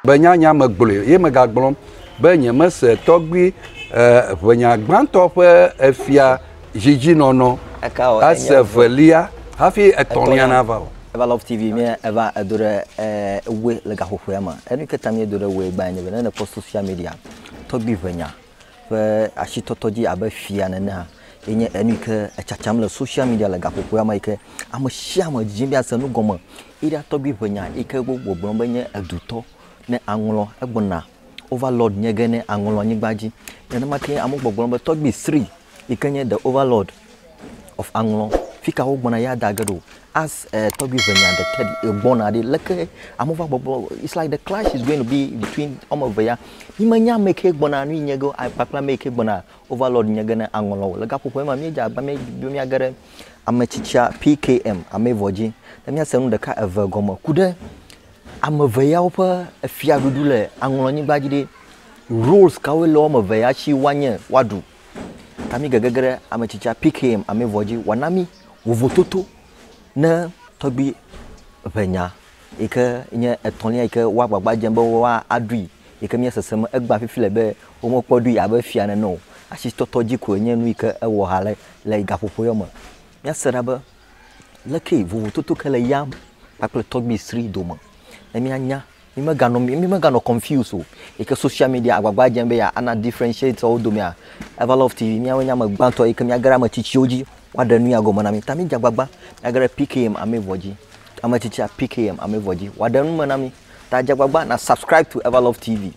Be nya nya me gblɔe ye mega gblɔm be nye me se tɔgbui eh, ʋe nya gbãtɔ ƒe efia zidzi nɔnɔ ase velia hafi etɔ̃lia nava o. Eva Love TV mi eva edo ɖe eh, ewe le gaxoxoea me. Enu ke ta mi edo ɖe ewe gbã nye be ne ne kpɔ social media tɔgbui ʋe nya. ƒe asitɔtɔ dzi abe fia nene hã ye nye enu yi ke etsatsam le soshial media le gaƒoƒoa me yi ke ame sia ame didim be yease nu gɔme. Eya tɔgbi ƒe nya yi ke wogbɔgblɔm be nye edutɔ ne aŋlɔ egbɔna overlord nye ge ne aŋlɔ anyigba dzi. Nenema ke amewo gbɔgblɔm be tɔgbi sri yi ke nye the overlord of aŋlɔ fika wo gbɔna ya da ge ɖo as uh, tɔgbi venya de tedi egbɔna ɖi leke amewo va gbɔgbɔ it's like the clash is going to be between ɔme eve ya mi me nya me ke gbɔna nu nye ge akpakpla me ke gbɔna overlord nye ge ne aŋlɔ le gaƒoƒo ma mi dza agba mi be mi age ɖe ame tsitsia pkm ame vɔ dzi ne mi ase nu ɖeka eve gɔme ku ɖe ame eve ya woƒe fiaɖuɖu le aŋlɔ nyigba dzi ɖe rules kawo le ɔme eve ya si woanye woaɖu Tami gegege ɖe ame tsitsia PKM ame vɔ dzi wòana mí vovototo ne tɔgbi ŋe nya yi ke nye etɔ̃lia yi ke woa gbagba dzem be woaɖui yi ke míesese me egbea fifi le be womekpɔ ɖui abe fia nene o. Asitɔtɔ dzi koe nye nu yi ke ewɔ ha le le gaƒoƒo yewo me. Míase ɖa be leke vovototo ke le yam kpakple tɔgbi sri dome ne míanya Mi me ga nɔ mi mi me ga nɔ confuse o. Eke social media agbagba dze be ya ana differentiate wo dome ya. Eva love TV mi awo nye ame gba tɔ eke mi age ɖe ame tsitsi wo dzi wa ɖe nu ya gɔme na mi. Ta mi dze agbagba mi age ɖe PKM ame vɔ dzi. Ame tsitsi ya PKM ame vɔ dzi wa ɖe nu me na mi. Ta dze agbagba na subscribe to Eva love TV.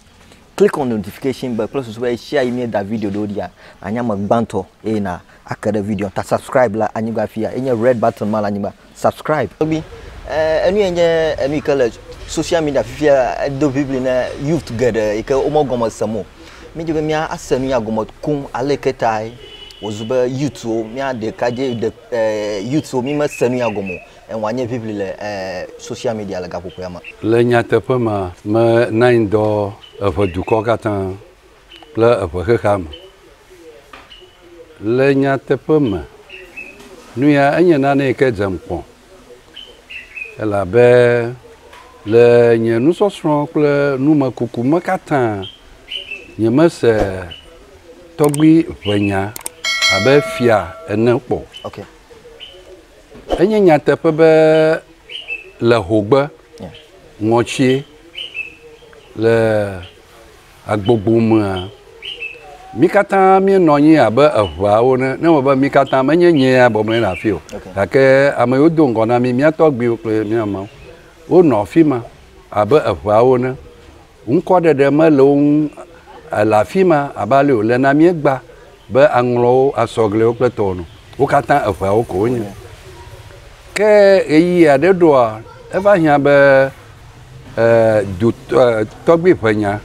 Click on notification bell kple susu be share yi mi da video ɖewo ɖia na nye ame gba tɔ eye na ake ɖe video ta subscribe la anyigba fi ya enye red button ma le anyigba. Subscribe tɔgbi eh, enu yɛ nye enu yi ke le social media fifia edo ʋiʋli ne youth geɖe yi ke womegɔme sem o. Míedi be mía ase nuya gɔme koŋ ale yi ke tae wòzu be youthwo, mía ɖekadze ɖe eh, youthwo mímese nuya gɔme o. Eŋu anye ʋiʋli le eh, social media le gaƒoƒoea me. Le nyateƒe mea, menanyi dɔ eʋe dukɔ katã. kple eŋe xexea me. Le nyateƒe me, nu ya enye nane yi ke dzem kpɔ elabe le nye nusɔsrɔ̃ kple numekuku me katã nyemese tɔgbui ŋenya abe fia ene kpɔ. Okay. Enye nyateƒe be le hogbe yeah. ŋɔtsie le Egbogbo mea, mí katã míenɔ anyi abe eŋeawo ene. Ne eme be mí katã, menye nyee ya bɔbɔ nɔ anyi ɖe afii o, gake ame yiwo do ŋgɔ na mí, mía tɔgbuiwo kple mía mawo, wonɔ afi ma abe eŋeawo ene. Ŋkɔɖeɖe mele wo ŋu, ele afi ma abe ale wòle na mí egbea, Be aŋlɔ wo asɔ gliwo kple tɔwo nu. Wo katã eŋeawo ko wonye. Ke ɣeyiɣi aɖe ɖoa, eva hiã be e, du, e, tɔgbui ƒe nya.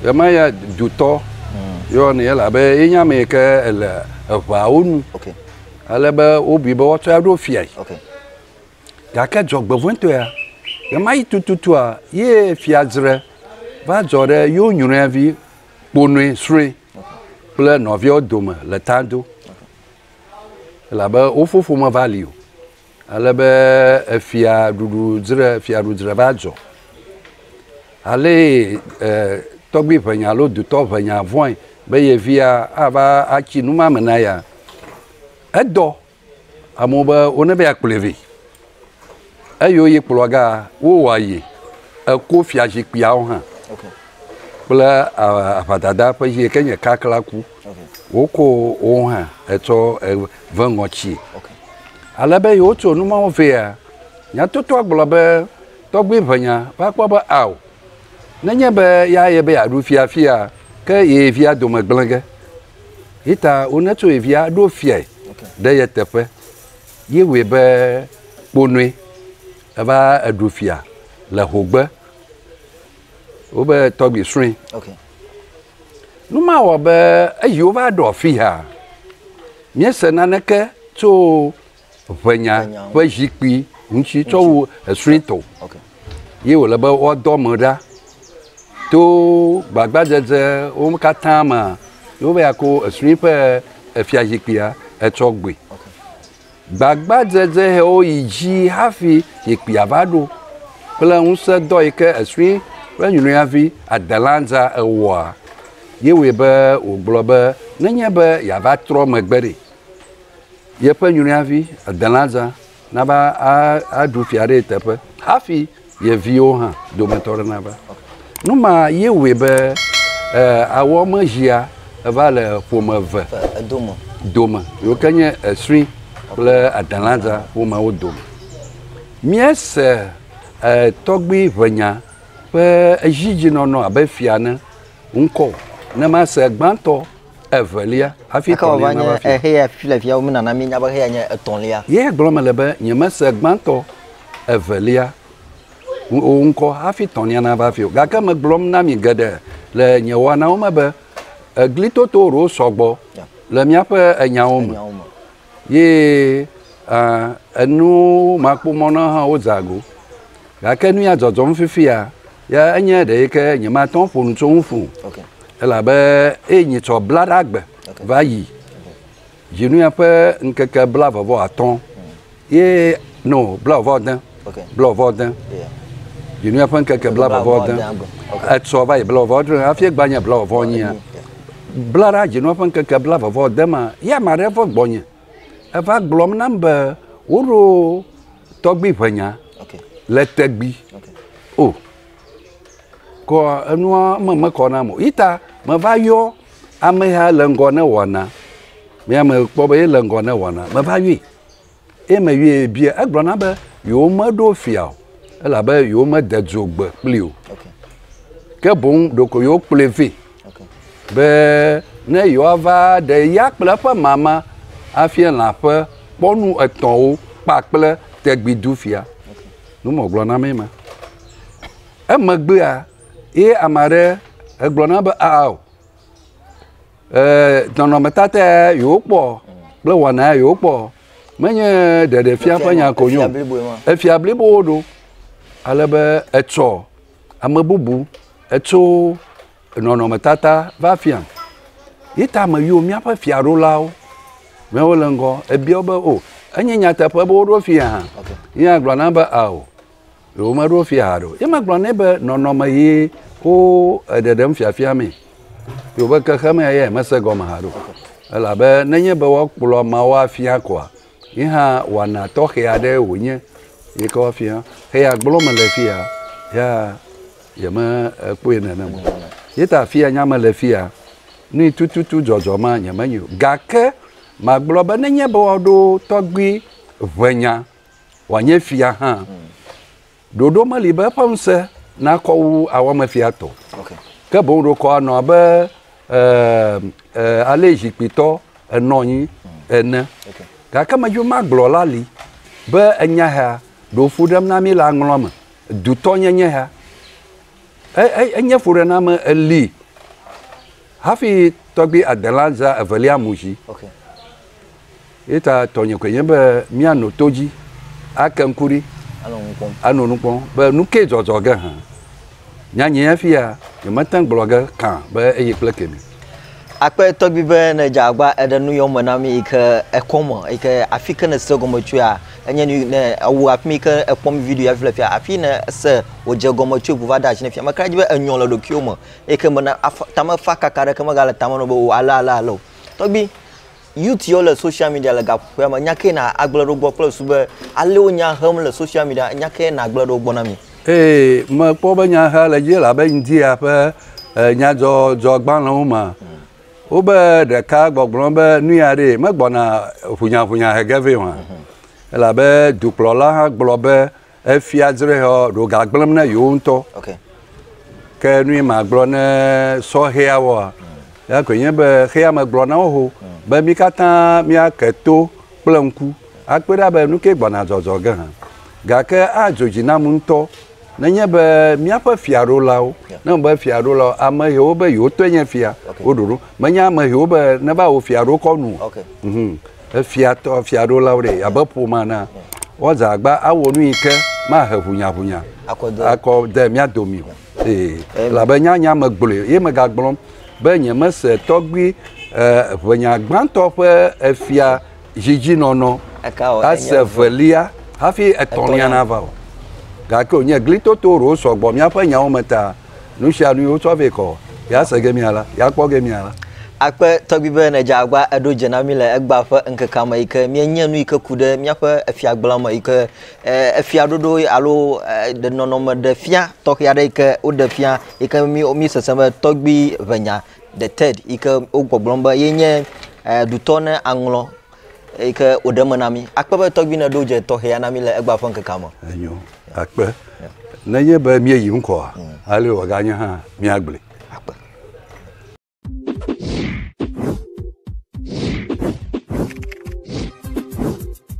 Ɣemaɣia dutɔ yɔa nɛ elabe ye nye ame yi ke le eŋeawo nu. Ale be wobui be woatsɔe aɖo fiae. Gake dzɔgbevɔ̃etɔea, ɣemaɣi tututua ye fiadzre va dzɔ ɖe yewo nyrɔevi kponɔe srɔ̃e kple nɔviawo dome le ta do elabe wo fofo meva li o ale be efia ɖuɖu dzre fia ɖu dzre va dzɔ ale e, tɔgbi ʋenya alo dutɔ ʋenya vɔe be ye via ava atsi numame na ya edɔ Amewo be wo ne be ya kplɔe vɛ. Eyi wo ye kplɔa ga wo wa ye eko fia zikpuia wo hã. Okay. Kple aʋadada ƒe zi ke nye kakla ku. Okay. Wo ko wo hã etsɔ ve ŋɔ tsi. Okay. Ale be yi wo tso numa wo vɛ ya. Nya toto agblɔ be tɔgbi ʋe nya va kpɔ be ao. Ne nye be ya ye be ya ɖu fia fia ke ye via dome gblege. Yi ta wone tso ye via ɖo fiae ɖe ye teƒe, yi wɔe be kponoe. Eva eɖu fia le hogbe. Wobe tɔgbi srɔ̃e. Okay. Nu ma wɔ be eyi wova ɖɔ fiha. Míese naneke tso ʋenya ƒe zikpui ŋuti tsɔ wu esrui tɔ ye wòle be woadɔ ame ɖa to gbagbadzedze wo katã me ye wova ya ko esrui ƒe efia zikpuia etsɔ gbɔe. Gbagbadzedze hewo yi dzi hafi zikpuia va ɖo kple ŋusẽ dɔ yi ke esrui ƒe nyɔnuyavi Adelanza ewɔa ye wɔe be wògblɔ be nenye be yeava trɔ megbe ɖe yeƒe nyruiavi Adelaza nava aɖu fia ɖe ye teƒe hafi ye viwo hã dometɔ aɖe nava. Nu ma ye wɔe be awɔ me zia eva le ƒome eve dome, yiwo ke nye Esri kple Adelaza ƒomeawo dome. Míese tɔgbui ʋenya ƒe edzidzinɔnɔ abe fia ene ŋkɔ o, ne mase gbãtɔ. evelia hafi Eka wòava etɔ̃lia nava nye afia. xeya fi le fia womenana míenya be xeya nye etɔ̃lia. Ye gblɔm mele be nyemese gbãtɔ, evelia, ŋu o ŋkɔ hafi etɔ̃lia nava afia o. Gake megblɔm na mi geɖe le nye wɔnawo me be eglitoto ɖewo sɔ gbɔ le míaƒe enyawo me. Enyawo me. ye enuwo ma kpɔ mɔ na hã wo dza go gake nu ya dzɔdzɔm fifia ya enye ɖe yike nye ma tɔn ƒo nu tso ŋu ƒo elabe eye nye tsɔ bla ɖa gbe va yi dzi nu ya ƒe ŋkeke bla vɔ vɔ atɔn ye no bla vɔ vɔ de. blɔvɔ de dzinua ƒe ŋkeke blɔvɔ de etsɔ va yi blɔvɔ dre hafi gba nye blɔvɔ nyia bla ɖa dzinua ƒe ŋkeke blɔvɔ de ma ye ame aɖe va gbɔnye eva gblɔm nam be woɖo tɔgbi ʋe nya le tegbi o kɔ enua me mekɔ nam o ita meva yɔ ameha le ŋgɔ ne wɔna mea me kpɔ be ele ŋgɔ ne wɔna meva yɔe eye me yɔe bia egblɔ na be yewo me ɖo fia o elabe yewo me de dzo gbe kpli o ke boŋ ɖeko yewo kplɔe vɛ be ne yewoa va ɖe ya kple eƒe mama afia lã ƒe kpɔnu etɔ̃wo kpakple tegbi du fia nu mɔ gblɔ na mee ma emegbea ye ame aɖe egblɔ na be aa o eh, nɔnɔmetata ya yewokpɔ kple wɔna ya yewokpɔ menye ɖeɖefia ƒe nya ko nyo efia blibowo ɖo ale be etsɔ ame bubu etso nɔnɔmetata va fia yi ta ame yiwo míaƒe fiaɖolawo mɛ wole ŋgɔ ebiawo be o enye nyateƒe be woɖo fia hã yagblɔ na be ao Ɖewo meɖo fi haɖe o. Ye megblɔ nɛ be nɔnɔme ye wo ɖeɖem fiafia mee. Ye wòbe xexemea ya yemese gɔme haɖe o. Elabe nenye be woakplɔ ameawo afia koa, ye hã wɔna tɔxɛ aɖee wònye yi ke woafia. Eya gblɔm mele fiya ya yemekpɔe nenem o. Ye ta afi nya mele fiya nui tututu dzɔdzɔ ma nyemenyae o. Gake magblɔ be nenye be woaɖo tɔgbui ʋe nya wòanye fia hã. Hmm. Ɖoɖo meli be eƒe ŋusẽ nakɔ wu awɔmefia tɔ. Okay. Ke boŋ ɖokɔ anɔ abe eh, eh, ale zikpuitɔ enɔ anyi hmm. ene. Okay. Gake medzi magblɔ la li be enya ya ɖo fu ɖem na mí le aŋlɔ me. Dutɔ nyenye ya. E, e, enye fuɖename eli. Hafi tɔgbui adela zã evelia mu dzi. Ye ta tɔnye koe nye be míano to dzi, ake ŋku ɖi, ano nu kpɔm be nu kae zɔzɔ ge hã. Nyanyɛ fi ya nyemete gblɔ ge kã be eye kple kemi. Akpe tɔgbi be ne dze agba eɖe nu yɔm me na mi yi ke ekɔ me yi ke afi ke ne se gɔme tsoea enye nu ne awu afi mi ke ekpɔ mi video ya fi le fia afi ne se wodze gɔme tsoe ʋu va ɖe asi ne fia me kra dzi be enyɔ le ɖokuiwo me Eke me na tame fa kaka ɖe ke me gale tame no be o ale ale ale o. Tɔgbi, youth yo le social media le gaƒoƒoa me, nyake na agble ɖo gbɔ kple su be ale wo nya hem le social media nyake na agble ɖo gbɔ na mi. Ee, me kpɔ be nya he le dzi labe India ƒe nyadzɔdzɔ gbalẽ wo me. Wo be ɖeka gbɔgblɔ be nuya ɖee, me gbɔna ʋunyaʋunya hege vɛ o hã. Elabe dukplɔla hã gblɔ be. Efia Zrexeɔ ɖo ga gblẽm ne yewo ŋutɔ. Okay. Ke nu yi magblɔ ne sɔhɛawoa, ya koe nye be xea me gblɔ na wo ho be mí katã míake to kple ŋku akpɔe ɖa be nu kae gbɔna zɔzɔ ge hã. Gake adzo dzi nam ŋutɔ nenye be míaƒe fiaɖolawo, ne wome be fiaɖolawo, ame hɛwo be yewotɔe nye fia, woɖo ɖo. Menye ame hɛwo be neva wò fiaɖokɔ nu o. Okay. Mhm. efiatɔ, efiaɖolawo ɖe abe ƒomea na woadze agba awɔ nu yi ke mahe ʋunyaʋunya akɔ de mía domi o. Ee, elabe nyanya megblɔe ye megagblɔm be nyemese tɔgbui eh, ʋenya gbãtɔ ƒe efia dzidzĩnɔnɔ ase evelia hafi etɔ̃lia nava o. Gake wònye glitoto ɖewo sɔ gbɔ míaƒe nyawo me ta. Nu sia nu yi wotsɔ vɛ kɔ yease gemea la, yeakpɔ gemea la. Akpe tɔgbi be nedze agba eɖo dze na mí le egbea ƒe ŋkekea me yi ke míenye nu yi ke ku ɖe míaƒe efiagblẽa me yi ke e, efiaɖoɖo alo e, ɖe nɔnɔme ɖe fia tɔxɛ aɖe yi ke woɖe fia yi ke mí mí sese be tɔgbi ʋenya the third yi ke wogbɔgblɔm be yenye e, ɖutɔ ne aŋlɔ eyi ke wòɖe eme na mí. Akpe be tɔgbui ne ɖo dze tɔxɛ ya na mí le egbea ƒe ŋkekea me. Enyo, akpe. Nenye be míeyi ŋkɔa, mm. ale wòaganye hã míagblẽ. Akpe.